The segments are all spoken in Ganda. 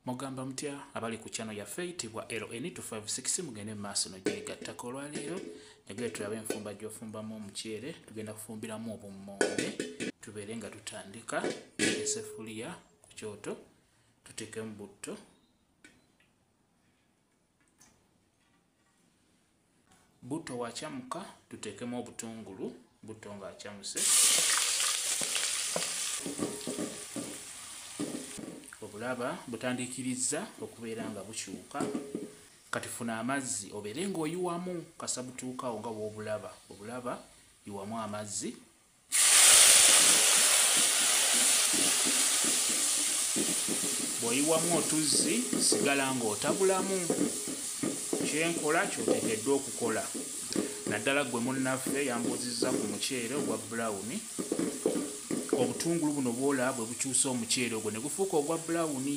mugamba mutya abali ku kyano yaffe eyitibwa ln 256 mugende mu maaso nogyegattako olwaleero nagere tulabe enfumba gyofumbamu omuceere tugenda kufumbiramu obummonde tubeere nga tutandika esefuliya ku kyoto tuteekemu butto butto wakyamuka tuteekemu obutungulu butto nga akyamuse obulaba butandiikirizza okubeera nga bukyuka kati funa amazzi obeere ng'oyiwamu kasabutuukawo nga bwobulaba obulaba yiwamu amazzi bw'oyiwamu otuzzi sigala ng'otabulamu kyenkola kyotekeddwa okukola naddala gwe munnaffe yambuuzizza ku muceere ogwa bulawuni obutungulu buno bwola bwe bukyusa omuceere ogwo ne gufuuka ogwa bulawuni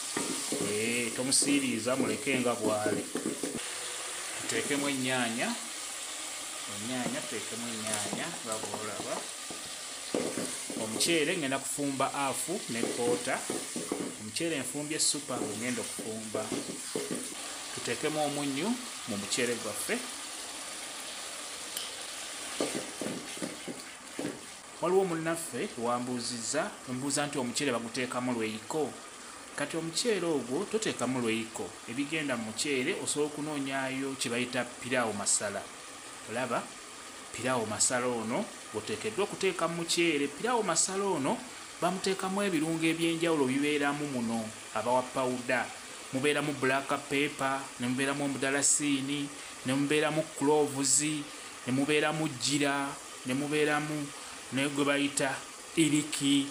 eh, tomusiiriiza muleke nga bwali tuteekemu ennyaanya ennyaanya tuteekemu ennyaanya nga bwolaba omuceere ngenda kufumba afu ne koota omuceere enfumbye supa ngenda okufumba tuteekemu omunnyu mu muceere gwaffe Waliwo munnaffe wambuuzizza mbuuza nti omuceere baguteekamu lweyiko? Kati omuceere ogwo toteekamu lweyiko, ebigenda mu muceere osobola okunoonyaayo kye bayita piraawo masala. Olaba? Piraawo masala ono gw'oteekeddwa okuteeka mu muceere. Piraawo masala ono bamuteekamu ebirungo eby'enjawulo bibeeramu muno abawa pawuda, mubeeramu black pepper, ne mubeeramu omudarasiini, ne mubeeramu cloves, ne mubeeramu jjira, ne mubeeramu ne gwe bayita iriki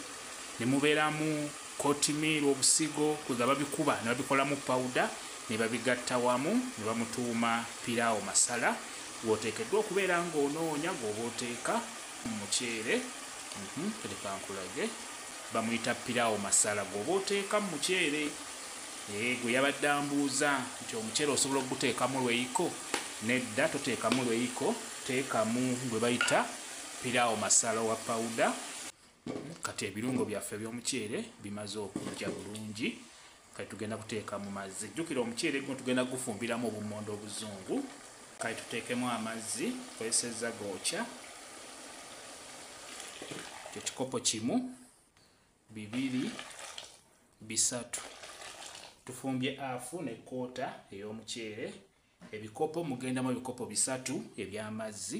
ne mubeeramu kotimiiru obusigo kwe ga babikuba ne babikolamu pawuda ne babigatta wamu ne bamutuuma piraawo masala gw'oteekeddwa okubeera ng'onoonya gw'oba oteeka mu muceere mhm, kati kankulage bamuyita piraawo masala gw'oba oteeka mu muceere eh, gwe yabadde ambuuza nti omuceere osobola okuguteekamu lweyiko nedda toteekamu lweyiko teekamu gwe bayita piraawo masala wa pawuda kati ebirungo byaffe ebyomuceere bimaze okujja bulungi kati tugenda kuteeka mu mazzi jjukira omuceere guno tugenda gufumbiramu obummonde obuzungu kati tuteekemu amazzi kozesezza gookya ekikopo kimu bibiri bisatu tufumbye afu ne koota ey'omuceere Ebikopo mugendamu ebikopo bisatu eby'amazzi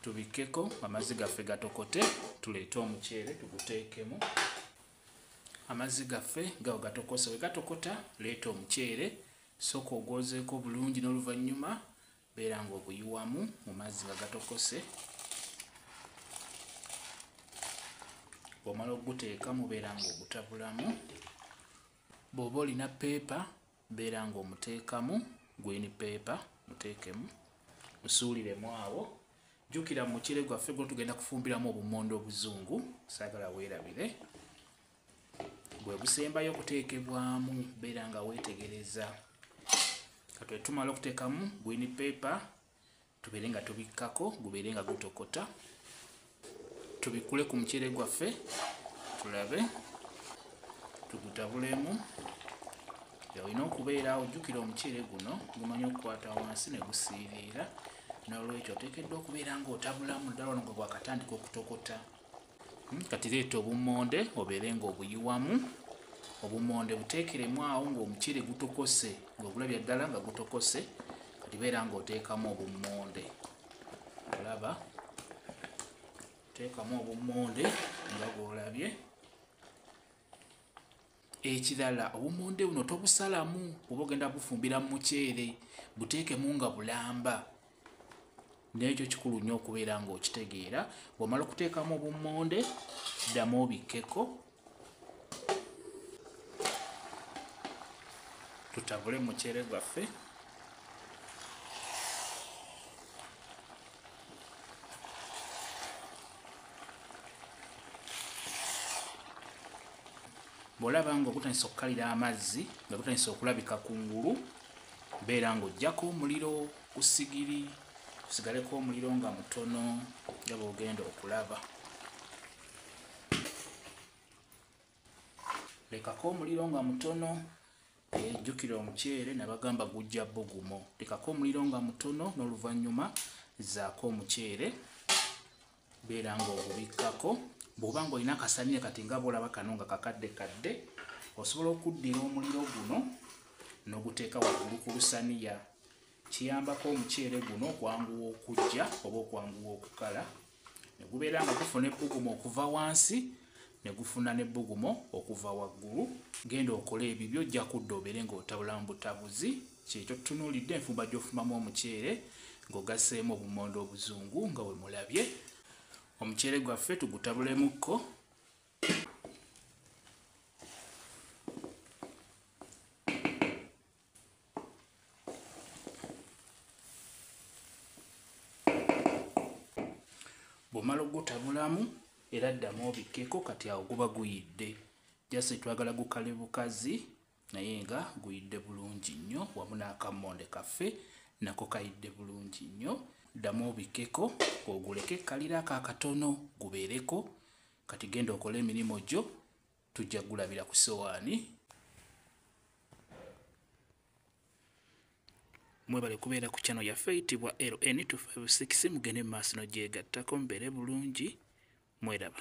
tubikkeko amazzi gaffe gatokote tuleete omuceere tuguteekemu amazzi gaffe gawo gatokose we gatokota leeta omuceere sooka ogwozeeko bulungi n'oluvannyuma beera ng'oguyiwamu mu mazzi nga gatokose bw'omala okuguteekamu beera ng'ogutabulamu bw'oba olina peepa beera nga omuteekamu gwini peepa muteekemu musuuliremu awo jjukira mukire gwaffe gwo tugenda kufumbiramu obumonde obuzungu saagala weerabire bwe busembayo okuteekebwamu beera nga weetegereza katwe tumala okuteekamu gwini peepa tubeere nga tubikkako gubeere nga gutokota tubikule ku muceere gwaffe tulabe tugutabulemu olina okubeera ojjukira omuceere guno gumanyi okukwata wansi ne gusiiriira n'olwekyo oteekeddwa okubeera ng'otabulamu ddala ono gwe gwakatandika okutokota hmm, kati leeta obummonde obeere nga obuyiwamu obummonde buteekeremu awo ng'omuceere gutokose ng'obulabya ddala nga gutokose kati beera ng'oteekamu obummonde olaba teekamu obummonde nga bw'olabye ekirala obumonde buno tobusalamu oba ogenda bufumbira mu muceere buteekemu nga bulamba nekyo kikulu nnyo okubeera ngaokitegeera bwomala okuteekamu obumonde ddamu obikkeko tutabule muceere gwaffe bwolaba nga ogutandisa okukalira amazzi nga gutandisa okulabika ku ngulu beera ng'ojjako omuliro ku sigiri kusigaleko omuliro nga mutono nga bwogenda okulaba lekako omuliro nga mutono Eh, jjukira omuceere nabagamba gujja bugumo tekako omuliro nga mutono n'oluvannyuma zaako omuceere beera nga ogubikkako bw'oba nga olina akasaniya kati nga bolaba kano nga kakadde kadde osobola okuddira omuliro guno n'oguteeka waggulu ku lusaniya kiyambako omuceere guno okwanguwa okujja oba okwanguwa okukala ne gubeera nga gufuna ebbugumu okuva wansi ne gufuna n'ebbugumu okuva waggulu genda okole ebibyo ojja kudda obeere ng'otabulamu butabuzi kyekyo tutunuulidde enfumba gy'ofumamu omuceere ng'ogaseemu obumondo obuzungu nga we mulabye omuceere gwaffe tugutabulemukko bwomala ogutabulamu era ddamu obikkeko kati awo guba guyidde jasi twagala gukale bukazi naye nga guyidde bulungi nnyo wamu n'akammonde kaffe nako kayidde bulungi nnyo ddamu obikkeko oguleke kalira ako akatono gubeereko kati genda okole emirimu gyo tujja kugulabira ku sowaani mwebale kubeera ku kyano yaffe eyitibwa ln 256 mugende mu maaso no gyegattako mubeere bulungi mweraba